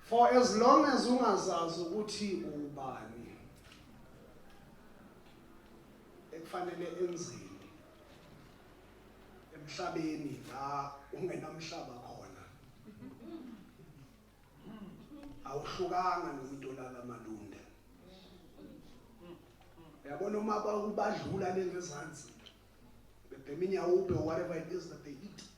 For as long as ungazazi ukuthi ubani ekufanele enzeni emhlabeni la ungenamhlaba khona awuhlukanga nomuntu olala malunde uyabona uma ubadlula lengezansi bebhema inyawube whatever it is that they eat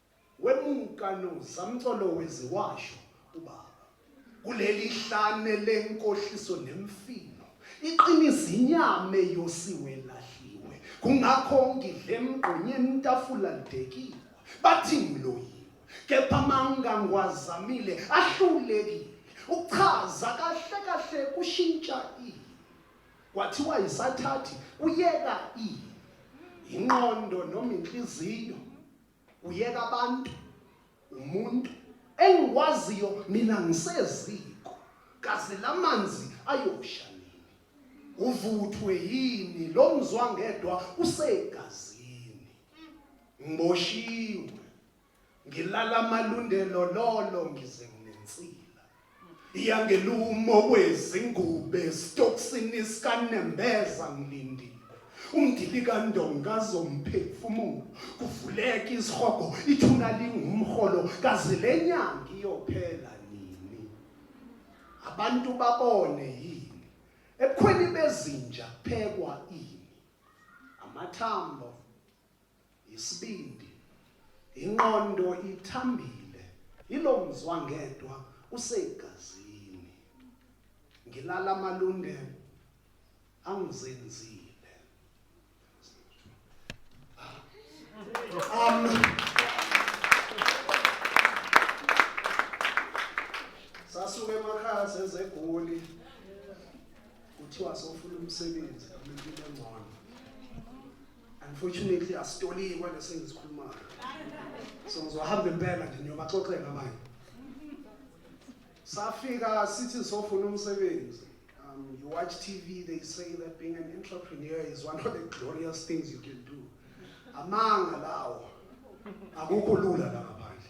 Wemuka no zamcolowezi washo ubaba. Kuleli hlane lenkohliso nemfino. Iqiniso inyame yosiwe lahliwe. Kungakho ngidle mgqonyeni tafula lidekiwe. Bathi ngiloyiwe. Kepha manga ngwazamile ahlulekile. Ukuchaza kahle kahle kushintsha i. Kwathiwa isathathi kuyeka i. Inqondo noma inhliziyo uyeka abantu umuntu engikwaziyo mina ngiseziko kaze lamanzi ayosha nini uvuthwe yini lo mzwa ngedwa usegazini ngiboshiwe ngilala amalundelo lolo ngize nginensila iyangelumo wezingube esitokisini sikanembeza ngilindile umdilikandonga azomphefumulo kuvuleka isihogo ithuna lingumholo kaze le nyanga iyophela nini abantu babone yini ebukhweni bezinja kuphekwa ini amathambo Isibindi, inqondo ithambile, yilo mzwangedwa usegazini. Ngilala amalunde angizenzile. Um, sasuke emakhaya sezegoli kuthiwa sofuna umsebenzi noma impilo engcono Unfortunately asitoliwe kwale sengizikhulumayo. So ngizohamba impela nje niyobaxoxela abanye. Safika sithi sofuna umsebenzi. Um, you watch TV, they say that being an entrepreneur is one of the glorious things you can do. Amanga lawo. Akukho lula la ngaphandle.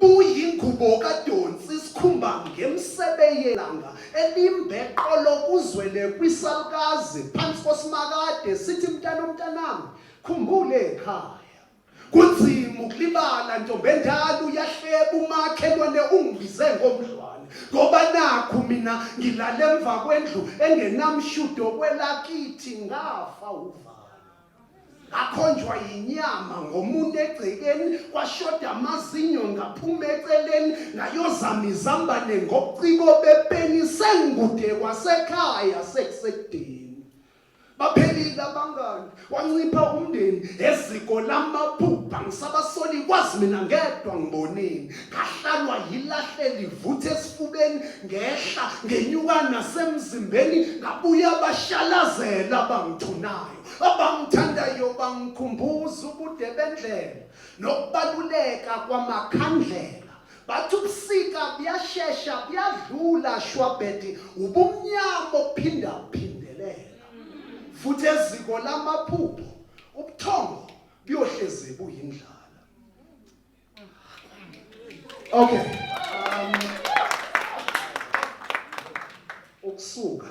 Buyingubo kadonsi isikhumba ngemsebe yelanga elimbe qolo kuzwele kwisalukazi phansi kosimakade sithi mntana umntanami khumbule ekhaya kunzima ukulibala ntombendala uyahleba umakhelwane ungibize ngomdlwane ngoba nakhu mina ngilale emva kwendlu engenamshudo kwelakithi ngafa uvalo akhonjwa yinyama ngomuntu egcekeni kwashoda amazinyo ngaphuma eceleni ngayozama izambane ngobuciko bepeni sengikude kwasekhaya sekusekudeni baphelile abangani wancipha umndeni eziko lamaphupha ngisabasoli kwazi mina ngedwa ngiboneni ngahlalwa yilahle livuthe esifubeni ngehla ngenyuka nasemzimbeni ngabuya bashalazela abangithunayo abangithandayo bangikhumbuza ubude bendlela nokubaluleka kwamakhandlela bathi ubusika buyashesha buyadlula shwabhedi ubumnyama ophinda uphindelela futhi eziko lamaphupho ubuthongo buyohlezi buyindlala okay um, ukusuka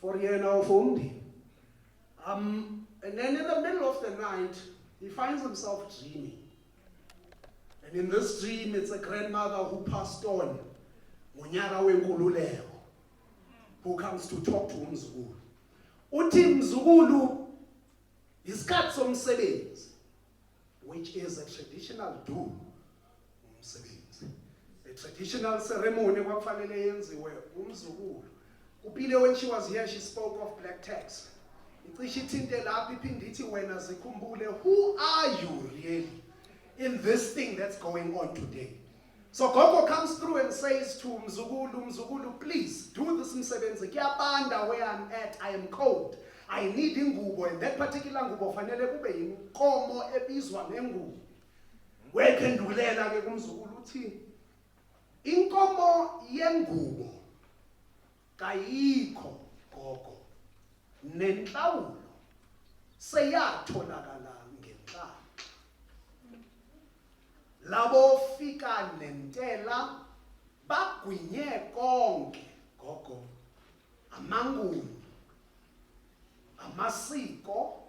for yena or for umndeni um, and then in the middle of the night he finds himself dreaming and in this dream it's a grandmother who passed on ngonyaka wenkululeko who comes to talk to umzukulu uthi mzukulu isikhathi somsebenzi which is a traditional do umsebenzi a traditional ceremony kwakufanele yenziwe umzukulu kupile when she was here she spoke of black tax icishe ithinte lapho iphinde ithi wena zikhumbule who are you really in this thing that's going on today So gogo comes through and says to mzukulu, mzukulu please do this msebenzi kuyabanda where I'm at, I am cold. I need ingubo and that particular ngubo fanele kube yinkomo ebizwa ngengubo. Wephendulela ke kumzukulu uthi inkomo yengubo kayikho gogo nenhlawulo seyatholakala Labo fika nentela bagwinye konke gogo amanguni amasiko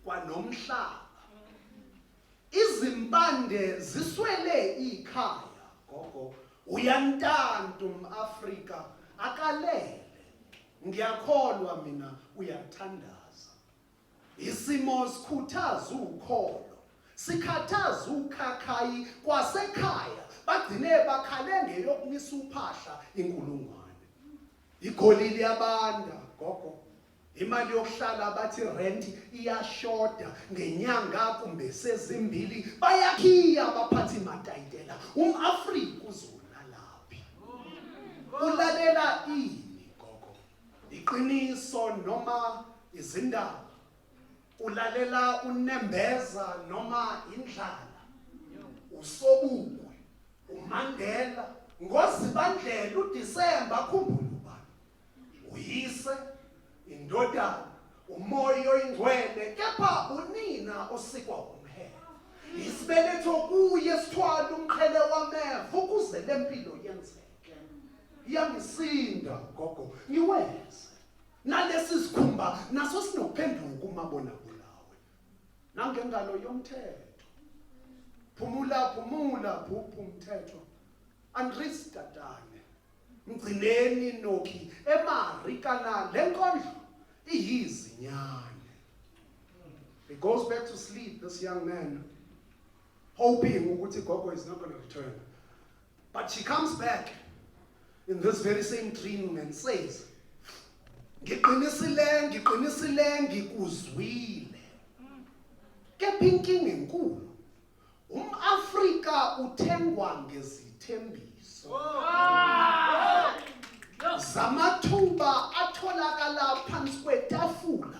kwanomhlaba izimpande ziswele ikhaya gogo uyantantu umAfrika akalele ngiyakholwa mina uyathandaza Isimo sikhuthaza ukholo, sikhathaza ukhakhayi kwasekhaya bagcine bakhale ngeyokumisa uphahla inkulungwane. Igoli liyabanda gogo. Imali yokuhlala bathi rent iyashoda ngenyanga kumbe sezimbili bayakhiya abaphathi matayitela umAfrika uzolala laphi ulalela ini Iqiniso noma izindaba. Ulalela unembeza noma indlala. Usobukwe, uMandela, ngozibandlela uDisemba akhumbule ubani. Uyise, indodana, umoya oyingcwele kepha unina osikwa umhele. Isibeletho kuye sithwala umqhele wameva ukuze lempilo yenzeke. yangisinda gogo ngiwenze nalesi sikhumba naso sinokuphenduka umabona kulawe nangengalo yomthetho phumula phumula phuphu umthetho andris tatane mgcineni nokhi emarikana le nkondlo iyizinyane he goes back to sleep this young man hoping ukuthi gogo is not going to return But she comes back in this very same dream and says, ngiqinisile ngiqinisile ngikuzwile kepha inkinga enkulu umAfrika uthengwa ngezithembiso zamathuba atholakala phansi kwetafula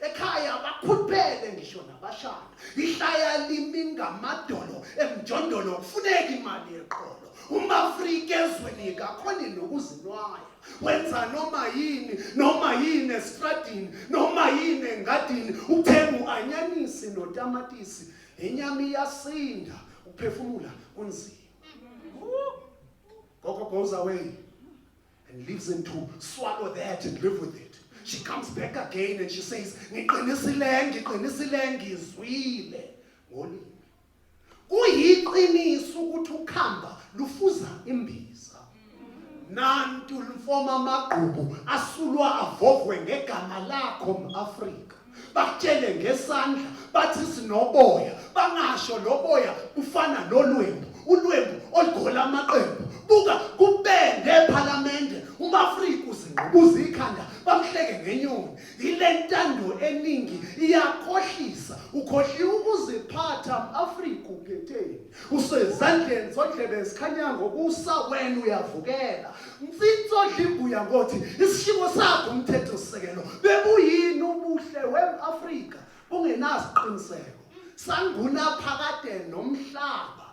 ekhaya bakhuphele ngisho nabashana ihlaya limi ngamadolo emjondolo kufuneka imali yeqolo umafrika ezweni kakhoni nokuzinwaya wenza noma yini noma yini esitradini noma yini engadini uthenga u-anyanisi notamatisi inyama iyasinda ukuphefumula kunzima gogo goes away and leaves him to swallow that and live with it. She comes back again and she says, ngiqinisile ngiqinisile ngizwile ngolimi. Kuyiqiniso ukuthi ukhamba lufuza imbiza. Nantu lifoma amagqubu asulwa avovwe ngegama lakho mAfrika. bakutshele ngesandla bathi sinoboya bangasho loboya kufana nolwembu ulwembu olugola amaqembu buka kubende ephalamende umafrika uzingqubuza ikhanda bamhleke ngenyoni yile ntando eningi iyakhohlisa ukhohliwe ukuziphatha afrika uphetheni usezandleni zodlebe zikhanyango kusa wena uyavukela mfitsi odla imbuya ngothi isishimo sakho umthetho sisekelo bebuyini ubuhle we-afrika bungenasiqiniseko sanguna phakade nomhlaba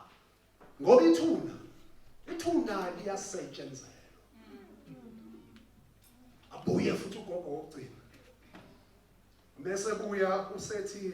ngoba ithuna ithuna liyasetshenzelwa abuye futhi ugogo wokugcina bese buya usethi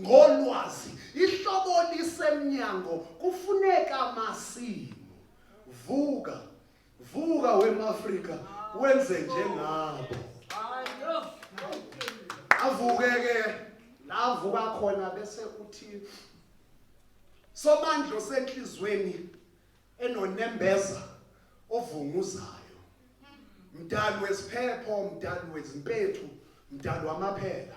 Ngolwazi, ihlobo lisemnyango kufuneka masimu. Vuka, vuka wemAfrika wenze njengabo. Avuke ke lavuka khona bese uthi somandlo senhlizweni enonembeza ovunguzayo mdali wesiphepho mdali wezimpethu mdali wamaphela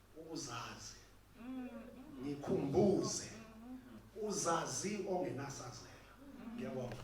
ukuzazi ngikhumbuze uzazi ongenasazela ngiyabonga